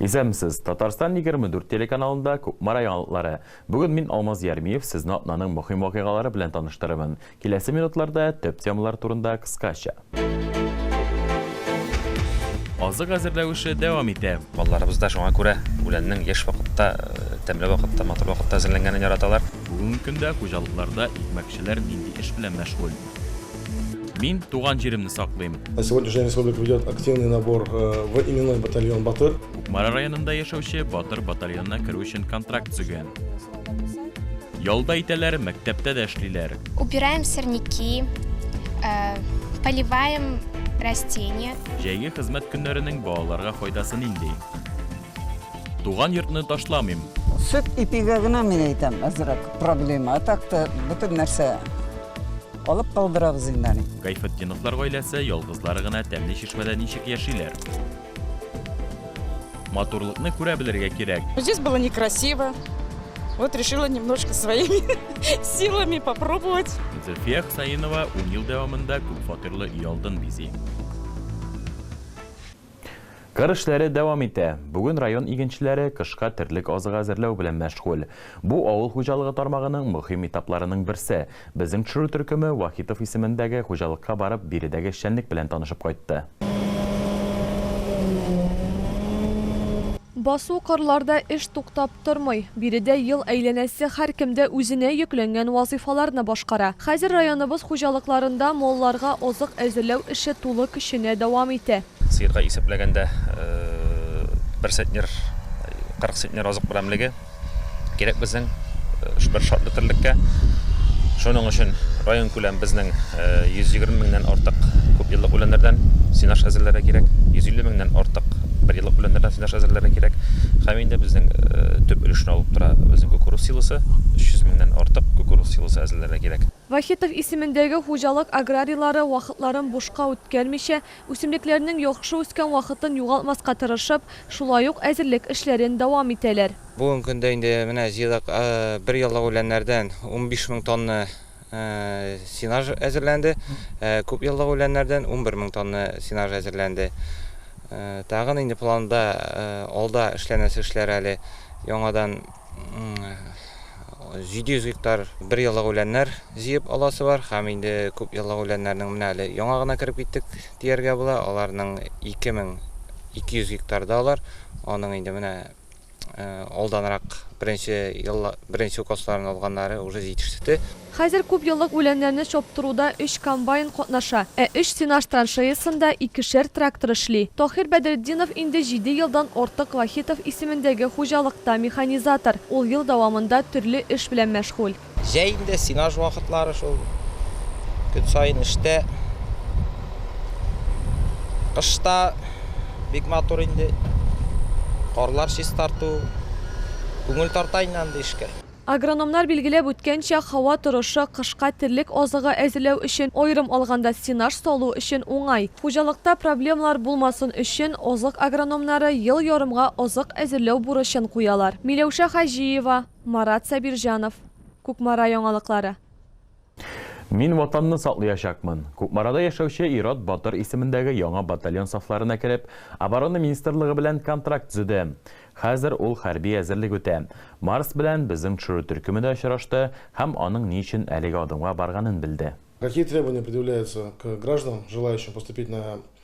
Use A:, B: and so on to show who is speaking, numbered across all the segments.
A: Исәнмесез! Татарстан егерме дүрт телеканалында Кукмара яңалыклары. Бүген мин, Алмаз Ярмиев, сезне атнаның мөһим вакыйгалары белән таныштырырмын. Киләсе минутларда төп темалар турында кыскача. азык әзерләү эше дәвам итә. Балаларыбыз да шуңа күрә
B: үләннең еш вакытта, э, тәмле вакытта, матур вакытта әзерләнгәнен яраталар. Бүгенге көндә
A: хуҗалыкларда икмәкчеләр нинди эш белән мәшгуль? Мин туган җиремне саклыйм. На сегодняшний республика
C: ведет активный набор э, в именной батальон Батыр. Кукмара районында
A: яшәүче Батыр батальонына керү өчен контракт төзегән. Ялда итәләр, мәктәптә дә эшлиләр. Убираем сорняки,
D: э, поливаем растения. Җәйге хезмәт
A: көннәренең балаларга файдасы нинди? Туган йортны ташламыйм. Сөт ипигә
E: генә мин әйтәм әзрәк проблема. А так та бөтен нәрсә алып калдырабыз инде аны. Гайфетдиновлар
A: гаиләсе ялгызлары гына тәмле чишмәдә ничек яшиләр? Матурлыкны күрә белергә кирәк. Здесь было некрасиво.
F: Вот решила немножко своими силами попробовать. Зөлфия Хсаинова
A: ун ел дәвамында күп фатирлы өй алдын бизи. Кыр эшләре дәвам итә. Бүген район игенчеләре кышка терлек азыгы әзерләү белән мәшгуль. Бу авыл хуҗалыгы тармагының мөһим этапларының берсе. Безнең төшерү төркеме Вахитов исемендәге хуҗалыкка барып, биредәге эшчәнлек белән танышып кайтты.
G: Басу кырларда эш туктап тормый. Биредә ел әйләнәсе һәркем дә үзенә йөкләнгән вазыйфаларны башкара. Хәзер районыбыз хуҗалыкларында малларга азык әзерләү эше тулы көченә дәвам итә. Сыерга исәпләгәндә,
B: бер центнер, 40 центнер азык берәмлеге. Кирәк безнең бер шартлы терлеккә. Шуның өчен район күләм безнең 120 меңнән артык күп еллык үләннәрдән сенаж әзерләргә кирәк, 150 меңнән артык бер еллык үләннәрдән сенаж әзерләргә кирәк. Һәм инде безнең төп өлешне алып тора безнең кукуруз силосы, 300 меңнән артык кукуруз силосы әзерләргә кирәк. Вахитов исемендәге
G: хуҗалык аграрийлары вакытларын бушка үткәрмичә, Үсемлекләрнең яхшы үскән вакытын югалтмаска тырышып, шулай ук әзерлек эшләрен дәвам итәләр. Бүгенге көндә инде
H: менә җыелак бер яллык үләннәрдән унбиш мең тонна сенаж әзерләнде, ә күп еллык үләннәрдән унбер мең тонна сенаж әзерләнде. Тагын инде планда, алда эшләнәсе эшләр әле яңадан. 700 гектар бер еллык үләннәр җыеп аласы бар һәм инде күп еллык үләннәрнең менә әле яңа гына кереп киттек дияргә була. Аларның 2200 гектарда алар. Аның инде менә э, алданрак беренче елла, беренче укосларын алганнары уже җитеште. Хәзер күпьеллык
G: үләннәрне чаптыруда өч комбайн катнаша, ә өч сенаж траншеясында икешәр трактор эшли. Таһир Бәдретдинов инде җиде елдан артык Вахитов исемендәге хуҗалыкта механизатор, ул ел дәвамында төрле эш белән мәшгуль. Җәй инде сенаж
H: вакытлары шул, көн саен эштә. Кышта бик матур инде, карлар чистарту, күңел тарта инде андый эшкә. Агрономнар билгеләп
G: үткәнчә, һава торышы кышка терлек азыгы әзерләү өчен, аерым алганда, стенаж салу өчен уңай. Хуҗалыкта проблемалар булмасын өчен, азык агрономнары ел ярымга азык әзерләү бурычын куялар. Миләүшә Хаҗиева, Марат Сабирҗанов. Кукмара яңалыклары.
A: Мин Ватанны саклыячакмын! Кукмарада яшәүче Ират батыр исемендәге яңа батальон сафларына кереп, Оборона министрлыгы белән контракт төзеде. Хәзер ул хәрби әзерлек үтә. Марс белән безнең төшерү төркеме дә очрашты һәм аның ни өчен әлеге адымга барганын белде. Какие требования
C: предъявляются к гражданам, желающим поступить на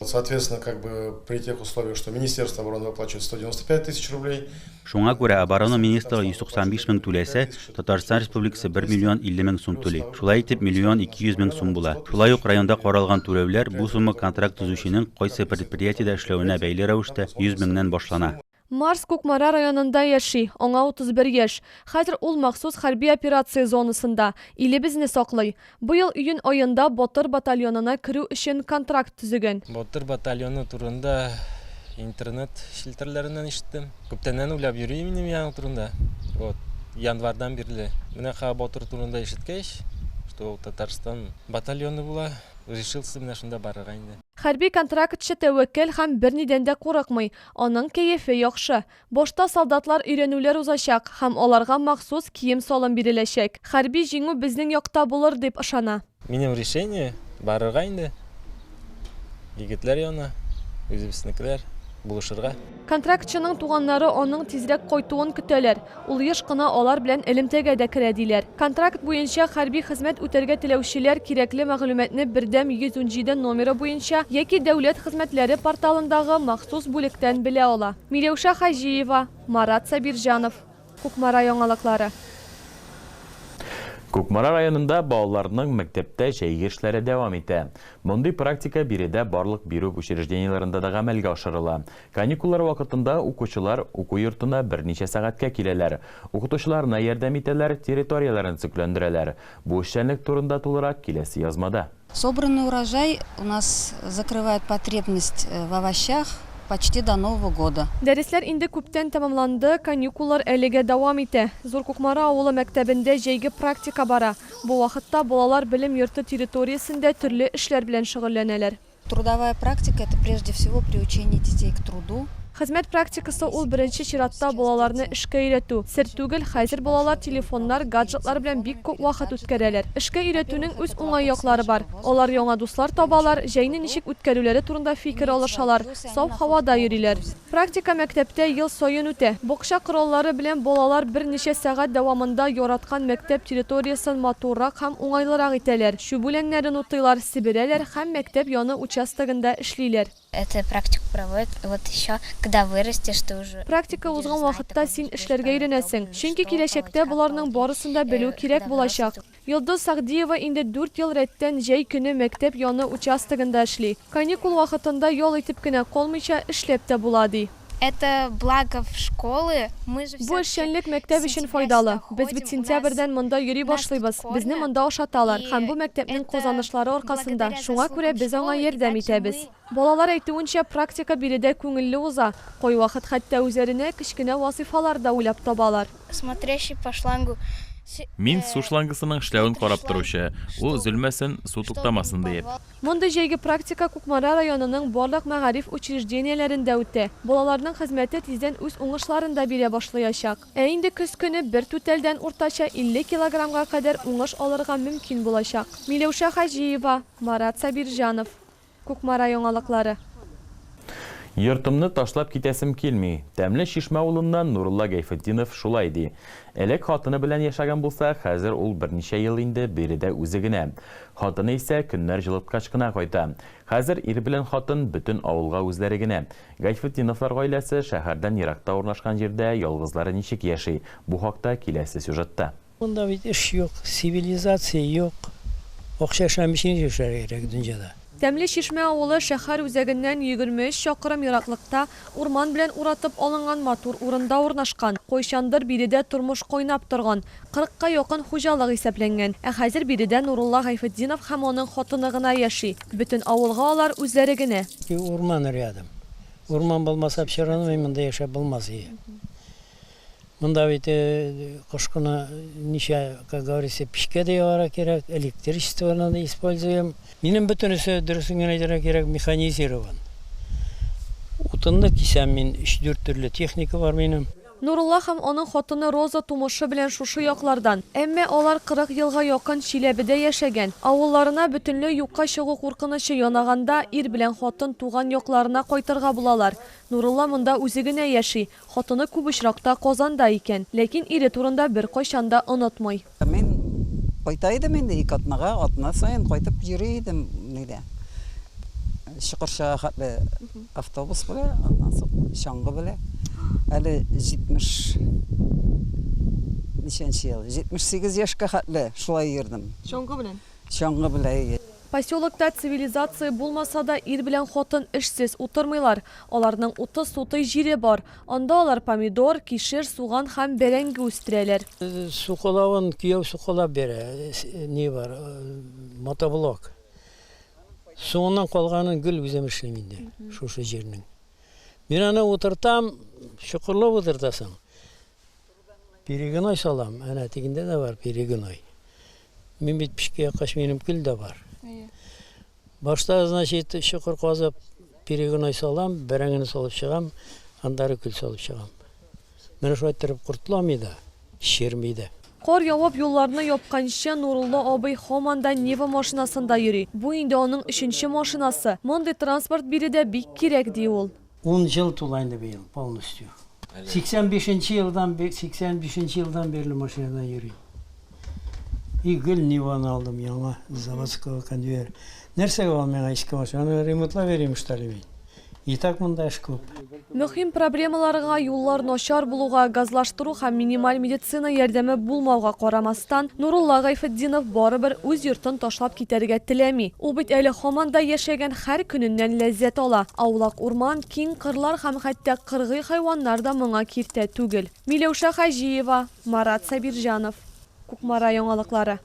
G: Соответственно, как бы
C: при тех условиях, что Министерство обороны выплачивает 195 тысяч рублей. Шуңа күрә оборона
I: министры 195 мең түләсә, Татарстан Республикасы 1 миллион 50 мең сум түли. Шулай итеп, миллион 200 мең сум була. Шулай ук районда каралган түләүләр бу сумма контракт төзүченең кайсы предприятиедә эшләвенә бәйле рәвештә 100 меңнән башлана. Марс Кукмара
G: районында яши, аңа 31 яшь. Хәзер ул махсус хәрби операция зонасында, илебезне саклый. Быел июнь аенда Батыр батальонына керү өчен контракт төзегән. Батыр батальоны
J: турында интернет челтәрләреннән ишеттем. Күптәннән уйлап йөри минем яның турында. Вот, январьдан бирле. Менә Ха Батыр турында ишеткәч, что ул Татарстан батальоны була, решился менә шунда барырга инде. Хәрби контрактчы
G: тәвәккәл һәм бернидән дә курыкмый. Аның кәефе яхшы. Башта солдатлар өйрәнүләр узачак һәм аларга махсус кием-салым биреләчәк. Хәрби җиңү безнең якта булыр дип ышана. Минем решение,
J: барырга инде, егетләр янына, үзебезнекеләр, булышырга. Контрактчының
G: туганнары аның тизрәк кайтуын көтәләр. Ул еш кына алар белән элемтәгә дә керә, диләр. Контракт буенча хәрби хезмәт үтәргә теләүчеләр кирәкле мәгълүматны Бердәм 117 номеры буенча яки Дәүләт хезмәтләре порталындагы махсус бүлектән белә ала. Миләүшә Хаҗиева, Марат Сабирҗанов. Кукмара яңалыклары.
A: Кукмара районында балаларның мәктәптә җәйге эшләре дәвам итә. Мондый практика биредә барлык бирү учреждениеләрендә дә гамәлгә ашырыла. Каникуллар вакытында укучылар уку йортына берничә сәгатькә киләләр, укытучыларына ярдәм итәләр, территорияләрен төзекләндерәләр. Бу эшчәнлек турында тулырак киләсе язмада. Собранный урожай
K: у нас закрывает потребность в овощах почти до Нового года. Дәресләр инде күптән
G: тәмамланды, каникуллар әлегә дәвам итә. Зур Кукмара авылы мәктәбендә җәйге практика бара. Бу вакытта балалар белем йорты территориясендә төрле эшләр белән шөгыльләнәләр. Трудовая практика,
K: это прежде всего приучение детей к труду. Хезмәт практикасы
G: ул беренче чиратта балаларны эшкә өйрәтү. Сер түгел, хәзер балалар телефоннар, гаджетлар белән бик күп вакыт үткәрәләр. Эшкә өйрәтүнең үз уңай яклары бар. Алар яңа дуслар табалар, җәйне ничек үткәрүләре турында фикер алышалар, саф һавада йөриләр. Практика мәктәптә ел саен үтә. Бакча кораллары белән балалар берничә сәгать дәвамында яраткан мәктәп территориясен матуррак һәм уңайлырак итәләр, чүп үләннәрен утыйлар, себерәләр һәм мәктәп яны участогында эшлиләр. Это практику
D: проводят вот еще когда вырастешь ты уже. Практика узган вакытта
G: син эшләргә өйрәнәсең, чөнки киләчәктә боларның барысын да белү кирәк булачак. Йолдыз Сәгъдиева инде дүрт ел рәттән җәй көне мәктәп яны участогында эшли. Каникул вакытында ял итеп кенә калмыйча, эшләп тә була, ди. Это благо
D: в школы, мы же Бу эшчәнлек
G: мәктәп өчен файдалы. Без бит сентябрьдән монда йөри башлыйбыз, безне монда ашаталар һәм бу мәктәпнең казанышлары аркасында, шуңа күрә без аңа ярдәм итәбез. Балалар әйтүенчә, практика биредә күңелле уза, кайвакыт хәтта үзләренә кечкенә вазыйфалар да уйлап табалар. Смотрящий по
D: шлангу. Мин су
A: шлангысының эшләвен карап торучы, ул өзелмәсен, су туктамасын диеп. Мондый җәйге
G: практика Кукмара районының барлык мәгариф учреждениеләрендә үтә. Балаларның хезмәте тиздән үз уңышларын да бирә башлыячак. Ә инде көз көне бер түтәлдән уртача 50 килограммга кадәр уңыш алырга мөмкин булачак. Миләүшә Хаҗиева, Марат Сабирҗанов. Кукмара яңалыклары.
A: Йортымны ташлап китәсем килми. Тәмле чишмә улыннан Нурулла Гәйфетдинов шулай ди. Элек хатыны белән яшәгән булса, хәзер ул берничә ел инде биредә үзе генә. Хатыны исә көннәр җылыткач кына кайта. Хәзер ир белән хатын бөтен авылга үзләре генә. Гайфетдиновлар гаиләсе шәһәрдән еракта урнашкан җирдә ялгызлары ничек яши, бу хакта киләсе сюжетта. Монда бит эш
L: юк, цивилизация юк. Акча эшләми өчен ничек эшләргә кирәк дөньяда? Тәмле Чишмә
G: авылы шәһәр үзәгеннән егерме өч чакрым ераклыкта, урман белән уратып алынган матур урында урнашкан. Кайчандыр биредә тормыш кайнап торган. Кырыкка якын хуҗалык исәпләнгән. Ә хәзер биредә Нурулла Гайфетдинов һәм аның хатыны гына яши. Бөтен авылга алар үзләре генә. И урман рядом.
L: Урман булмаса, все равно монда яшәп булмас иде. Монда бит кышкыны ничә, как говорится, печкә дә ягарга кирәк, электричествоны да используем. Минем бөтенесе, дөресен генә әйтергә кирәк, механизирован. Утынны кисәм мин, өч-дүрт төрле техника бар минем. Нурулла һәм аның
G: хатыны Роза тумышы белән шушы яклардан, әмма алар кырык елга якын Чиләбедә яшәгән. Авылларына бөтенләй юкка чыгу куркынычы янаганда, ир белән хатын туган якларына кайтырга булалар. Нурулла монда үзе генә яши. Хатыны күп очракта Казанда икән, ләкин ире турында беркайчан да онытмый. Мин
E: кайта идем инде, ике атнага, атна саен кайтып йөри идем, нигә, Чокырчага хәтле автобус белән, аннан соң чаңгы белән. Әле 70 ничәнче ел, 78 яшькә хәтле шулай йөрдем.
G: Чаңгы белән? Чаңгы
E: белән. Поселокта
G: цивилизация булмаса да, ир белән хатын эшсез утырмыйлар. Аларның утыз сутый җире бар. Анда алар помидор, кишер, суган һәм бәрәңге үстерәләр. Сукалавын
L: кияү сукалап бирә. Ни бар, мотоблок. Соңыннан калганын гел үзем эшлим инде, шушы җирнең. Мин аны утыртам, чокырлап утыртасың. Перегной салам, әнә тегендә дә бар перегной. Мин бит пешкә яккач минем көл дә бар. Башта, значит, чокыр казып, перегной салам, бәрәңгене салып чыгам, андары көл салып чыгам. Менә шулай торып кортламый да, черми дә. Кар явып,
G: юлларны япканчы, Нурулла абый һаман да Нива машинасында йөри. Бу инде аның өченче машинасы. Мондый транспорт биредә бик кирәк, ди ул. Ун ел тула
L: инде быел полностью. Әле. 85 нче елдан, 85 нче елдан бирле машинада йөрим. И гел Ниваны алдым яңа, заводского конвейер. Нәрсәгә ул миңа иске машина? Аны ремонтлап йөрим что ли мин? И так монда эш күп. Мөһим
G: проблемаларга, юллар начар булуга, газлаштыру һәм минималь медицина ярдәме булмауга карамастан, Нурулла Гайфетдинов барыбер үз йортын ташлап китәргә теләми. Ул бит әле һаман да яшәгән Һәр көненнән ләззәт ала. Аулак урман, киң кырлар һәм хәтта кыргый хайваннар да моңа киртә түгел. Миләүшә Хаҗиева, Марат Сабирҗанов, Кукмара яңалыклары.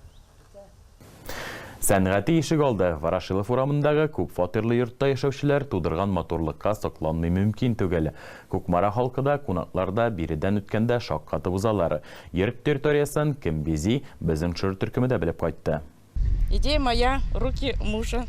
A: Сәнгате ишегалды, Ворошилов урамындагы күп фатирлы йортта яшәүчеләр тудырган матурлыкка сокланмый мөмкин түгел. Кукмара халкы да, кунаклар да биредән үткәндә шаккатып узалар. Йорт территориясен кем бизи, безнең төшерер төркеме дә белеп кайтты. Идея моя,
F: руки мужа.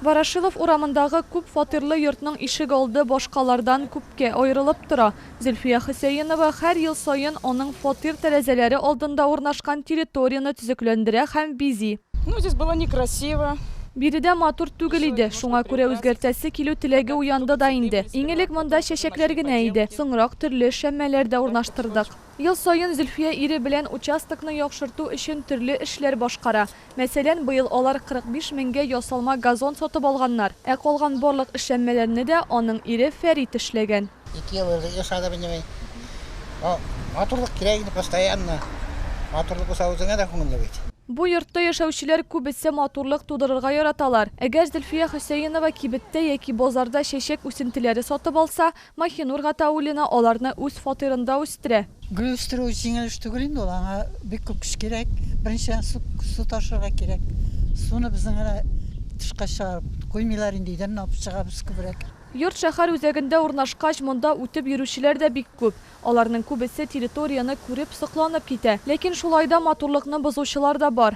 G: Ворошилов урамындагы күп фатирлы йортның ишегалды башкалардан күпкә аерылып тора. Зөлфия Хөсәенова һәр ел саен аның фатир тәрәзәләре алдында урнашкан территорияне төзекләндерә һәм бизи. Ну, здесь было
F: некрасиво. Биредә матур
G: түгел иде, шуңа күрә үзгәртәсе килү теләге уянды да инде. Иң элек монда чәчәкләр генә иде, соңрак төрле эшләнмәләр дә урнаштырдык. Ел саен Зөлфия ире белән участокны яхшырту өчен төрле эшләр башкара. Мәсәлән, быел алар 45 меңгә ясалма газон сатып алганнар. Ә калган барлык эшләнмәләрне дә аның ире Фәрит эшләгән. Ике ел элек ясады
M: минем. Матурлык кирәк инде, постоянно. Матурлык булса, үзеңә дә күңелле бит. Бу йортта
G: яшәүчеләр күбесе матурлык тудырырга яраталар. Әгәр Зөлфия Хөсәенова кибеттә яки базарда чәчәк үсентеләре сатып алса, Маһинур Гатауллина аларны үз фатирында үстерә. Гөл үстерү
N: җиңел эш түгел инде ул, аңа бик күп көч кирәк. Беренчедән, су, су ташырга кирәк. Суны безнең генә тышка чыгарып куймыйлар инде, өйдән генә алып чыгабыз күбрәк. Йорт шәһәр
G: үзәгендә урнашкач, монда үтеп йөрүчеләр дә бик күп. Аларның күбесе территорияне күреп, сокланып китә. Ләкин шулай да матурлыкны бозучылар да бар.